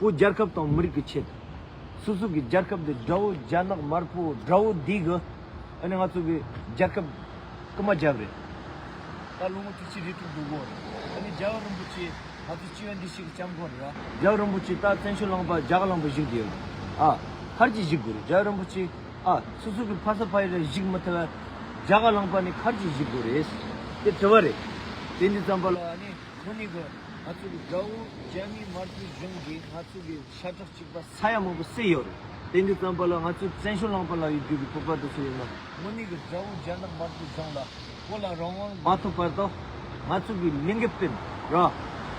བོ་རྒྱལ་ཁབ་དང་མི་རིགས་ཀྱི་ཆེད་དུ། སོ་སོ་གི་རྒྱལ་ཁབ་འདི་དགྲ་བོ་རྒྱ་ནག་དམར་པོ་དགྲ་བོ་འདི་གི་ཨ་ནི་ང་ཚོ་གི་རྒྱལ་ཁབ་ཀྱི་མ་རྒྱབ་རེད། ད་ལོ་ངོ་ཐུག་ཕྱི་རེ་དྲུག་འདུག་གོ། ཨ་ནི་རྒྱལ་བ་རིན་པོ་ཆེ་ང་ཚོ་སྤྱི་བའི་འདི་ཞིག་གི་སྐྱབས་མགོན་རེད་ཨ། རྒྱལ་བ་རིན་པོ་ཆེ་ད་བཙན་བྱོལ་ལངས་པ་རྒྱ་གར་ལངས་པ་གཞིག་འདི་ཡོད་རེད་ཨ། མཁར་གྱི་གཞིག་དགོས་རེད་རྒྱལ་བ་རིན་པོ་ཆེ་ཨ། སོ་སོ་གི་ཕ་ས་ཕ་ཡུལ་ལ་གཞིག་མི་ཐུབ་བས། རྒྱ་གར་ལངས་པ་ནི་མཁར་གྱི་གཞིག་དགོས་རེད། དེ་དྲི་བ་རེད། དེ་འདི་ཙམ་པ་ལ་ཨ་ནི། ཁོ་ནི་གི་ང་ཚོ་གི་དགྲ་བོ་རྒྱ་མིའི་དམར་པོའི་གཞུང་གིས་ང་ཚོ་གི་ཤ་ཁྲག་གཅིག་པ་ས་ཡ་མང་པོ་བསྲེས་ཡོད་རེད་དེ་འདི་ཙམ་པ་ལ་ང་ཚོས་བཙན་ཤུགས་བླངས་པ་ལ་ཡི་རྒྱུ་གི་བོད་པ་དེ་ཚོ་ཡིན་ནམ། ངོ་ནི་གི་དགྲ་བོ་རྒྱ་ནག་དམར་པོའི་གཞུང་ལ་བོད་ལ་རང་དབང་མ་ཐོབ་བར་དུ་ང་ཚོ་གི་ལིང་གི་སྤེན་ར་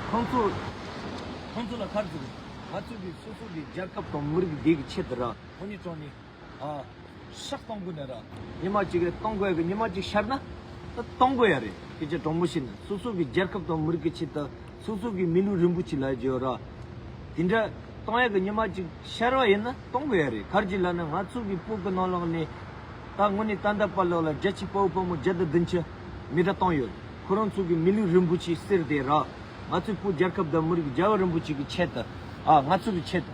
ཁོང་ཚོ། ཁོང་ཚོ་ལ་ཁར་འཛུགས་རེད་ང་ཚོ་གི་སོ་སོ་གི་རྒྱལ་ཁབ་དང་མི་རིགས་བདེ་གི་ཆེད་དུ་ར་ངོ་ནི་དྲང་ནི། ཤག་སྟོང་དགོས་ནས་ར། ཉི་མ་གཅིག་གི་སྟོང་དགོས་གི་ཉི་མ་གཅིག་ཤར་ན། སྟོང་དགོས་ཡ་རེད་སྐད་ཆ་དྲང་པོ་བཤད་ན་སོ་སོ་གི་རྒྱལ་ཁབ་དང་མི་རིགས་ཀྱི་ཆེད་དུ་སོ་སོ་གི་མི་ལུས་རིན་པོ་ཆེ་ལ་བརྗོད་ར། དེ་འདྲ་སྟོང་ཡ་གི་ཉི་མ་གཅིག་ཤར་བ་ཡིན་ན་སྟོང་དགོས་ཡ་རེད་གར་གྱི་ལ་ནི་ང་ཚོ་གི་སྤུ་གི་ནང་ལོག་ནས། ད་དངོས་ནས་ཏན་ཏན་པར་ལོག་ལ་རྒྱ་ཆེ་དཔའ་བོ་དཔའ་མོ་བརྒྱ་དང་བདུན་ཅུ་མི་དྲ་སྟོང་ཡོད་ཁོ་རང་ཚོ་གི་མི་ལུས་རིན་པོ་ཆེ་གསེར་དེ་ར། ང་ཚོའི་སྤུ་རྒྱལ་ཁབ་དང་མི་རིགས་རྒྱལ་བ་རིན་པོ་ཆེ་གི་ཆེད་དུ། ང་ཚོ་གི་ཆེད་དུ།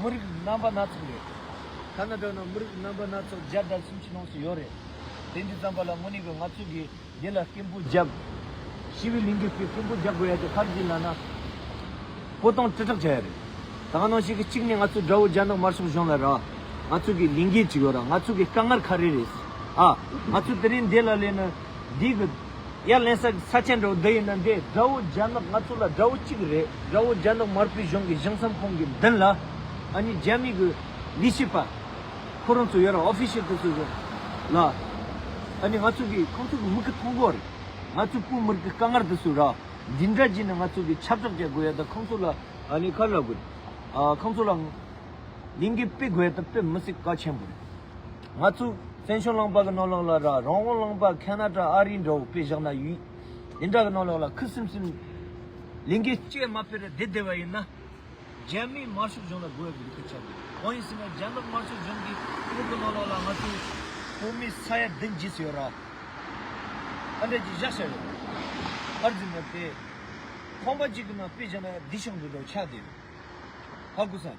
མི་རིགས་རྣམ་པ་སྣ་ཚོགས་ཡོད། ཐ་ན་དོན་ནོ་མི་རིགས་རྣམ་པ་སྣ་ཚོགས་བརྒྱ་དང་སུམ་ཅུ་ལོངས་སུ་ཡོད་རེད། དེ་འདི་ཙམ་པ་ལ་དངོས་གནས་གི་ང་ཚོས་གི་འདི་ལ་སྐད་འབོད་རྒྱག་དགོས། ཤི་བི་ལིང་གིས་གི་སྐད་འབོད་རྒྱག་དགོས་ཡ་དེ་ཕར་གྱི་ལ་ན་བོ་དང་དྲིལ་བསྒྲགས་བྱ་ཡ་རེད། ད་ག་ནང་བཤད་གི་གཅིག་ནས་ང་ཚོ་དགྲ་བོ་རྒྱ་ནག་དམར་ཕྱོགས་གཞུང་ལ་ར་ང་ཚོ་གི་ལིང་གའི་གཅིག་ཡོད་ར་ང་ཚོ་གི་དཀའ་ངར་ཁ་རེ་རེད། ཨ་ང་ཚོ་དེ་རིང་འདི་ལ་ལས་ནི་འདི་གི། ཡར་ལེན་ས་ཆེན་དགྲ་བོ་འདི་ཡིན་ན་འདྲེ་དགྲ་བོ་རྒྱ་ནག་ང་ཚོ་ལ་དགྲ་བོ་གཅིག་རེད་དགྲ་བོ་རྒྱ་ནག་དམར་པོའི་གཞུང་གི་གཞུང་བསམ་ཁོང་གི་མདུན་ལ་ཨ་ནི་རྒྱ་མི་གི་ལི་ཤི་པ་ཁོ་རང་ཚོ་ཡོད་ར official དེ་ཚོ་ཡོད་ལ་ཨ་ནི་ང་ཚོ་གི་ཁོང་ཚོ་གི་མི་གི་མཐོང་སྒོ་རེད་ང་ཚོ་བོད་མིར་གི་དཀའ་ངར་དེ་ཚོ་ར་འདི་འདྲ་གྱིས་ནི་ང་ཚོ་གི་ཆབ་སྲབ་བྱ་དགོས་ཡ་ད་ཁོང་ཚོ་ལ་ཨ་ནི་ཁ་ལ་དགོས་རེད་ཨ་ཁོང་ཚོ་ལ་ལིང་གི་དཔེ་དགོས་ཡ་ད་དཔེ་མི་སྲིད་དཀའ་ཆེན་པོ་རེད། ང་ཚོས་བཙན་བྱོལ་གླང་པ་གི་རྣོ་ལག་ལ་ར་རང་དབང་གླང་པ་ཁ་ན་ཏྲ་ཨ་རི་འདྲ་བོ་དཔེ་བཞག་ན་ཡུས་འདི་འདྲ་གི་རྣོ་ལག་ལ་ཁུ་སིམ་སིམ་ལིང་གེ་སྐྱེས་མ་ཕེར་བདེ་བདེ་བ་ཡིན་ན། རྒྱ་མིའི་དམར་ཤོག་གཞུང་ལ་རྒོལ་བའི་ལུགས་ཀྱི་བྱ་དགོས། གང་ཡིན་ཟེར་ན་རྒྱ་ནག་དམར་ཤོག་གཞུང་གིས་བོད་ཀྱི་རྣོ་ལག་ལ་ང་ཚོའི་བོད་མིའི་ས་ཡ་བདུན་བརྗེས་སུ་ཡོད་ར། ཨ་འགྲས་ཀྱིས་བཞག་བཞག་ཡོད། ཨར་འཛིན་མེད་པས། ཁང་པ་གཅིག་གི་ནང་དཔེ་བཞག་ན་བདེ་ཤོག་འདི་འདྲ་བོ་ཆགས་བསྡད་ཡོད། ཧ་གོ་ས།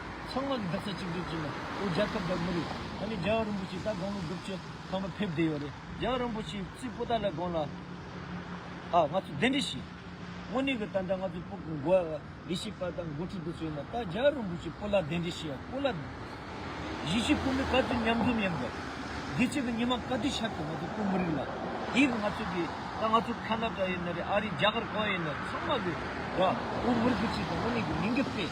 ཚང་མ་གི་འདབ་ས་གཅིག་སྒྲིལ་བྱས་ན་ཨོ་རྒྱལ་ཁབ་བདག་མི་རིགས་ད་ནི་རྒྱལ་བ་རིན་པོ་ཆེ་ལྟར་དགོང་མོ་སྒྲུབ་བྱེད་ཁང་པ་ཕེབས་བསྡད་ཡོད་རེད་རྒྱལ་བ་རིན་པོ་ཆེའི་རྩིས་སྤོ་ད་ལས་དགོངས་ལ་ཨ་ང་ཚོ་གདན་འདྲེན་བྱས། དངོས་གནས་གི་ད་ལྟ་ང་ཚོ་སྤོ་དགོས་འགོ་ཡི་ཤེས་པ་དང་འགོ་ཁྲིད་དུ་བསོད་ན་ད་རྒྱལ་བ་རིན་པོ་ཆེ་སྤོ་ལ་གདན་འདྲེན་བྱས་ཡ་སྤོ་ལ། གཞིས་བྱེས་ཕོ་མོའི་དཀའ་སྡུག་མཉམ་འཛོམས་ཡིན་དགོས། དགེ་བྱེད་ཀྱི་ཉི་མ་ག་དུས་ཤར་དུས་ང་ཚོ་སྤོ་མི་རིགས་ལ་དེའི་གི་ང་ཚོ་གི་ད་ང་ཚོ་ཁ་ན་ཀྲ་ཡིན་ན་རེད་ཨ་རིའི་རྒྱ་གར་གང་ཡིན་ན་རེད་ཚང་མ་གི་ར་སྤོ་མི་རིགས་གི་ཆེད་དུ་དངོས་གནས་གི་མི་འགས་པས།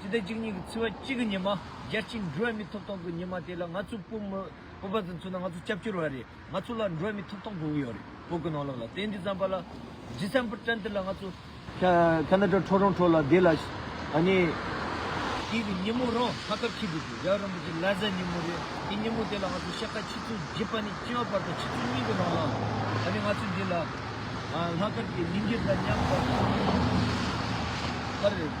ཅི་སྟེ་གཅིག་ཉིད་ཀྱི་ཚིག་བ་གཅིག་གི་ཉི་མ་བརྒྱ་གཅིག་འབྲི་བ་མི་ཐོབ་ཐང་གི་ཉི་མ་དེ་ལ་ང་ཚོའི་སྤོབས་མོ་སྤོབས་པ་ཙམ་ཚུགས་ན་ང་ཚོ་སྐྱབས་བཅོལ་བ་རེད་ང་ཚོ་ལ་འབྲི་བ་མི་ཐོབ་ཐང་དགོས་ཀྱི་ཡོད་རེད་བོད་ཀྱི་ནང་ལོགས་ལ་དེ་འདི་བརྩམས་པ་ལ་ཇི་བརྩམས་པར་དྲན་དེ་ལ་ང་ཚོ། ཁ་ན་ཏྲ་ཁྲོ་རོང་ཁྲོ་ལ་དེ་ལ་ཨཱ། དེ་གི་ཉིན་མོ་རང་ཁ་ཁབ་ཁྱི་དེ་དེ་རབ་རིན་པོ་ཆེ་ལ་ཟ་ཉིན་མོ་རེད་དེ་ཉིན་མོ་དེ་ལ་ང་ཚོ་ཤ་ཁ་ཆིག་ཚུགས་བརྗེས་པ་ནི་ལྕི་བ་བར་དང་ཆིག་ཚུགས་གཉིས་ཀྱི་ནང་ལ་ཨཱ་ང་ཚོ་འདི་ལ་ལྷག་དཀར་གྱི་ཉིན་གྱི་ལ་ཉམས་དང།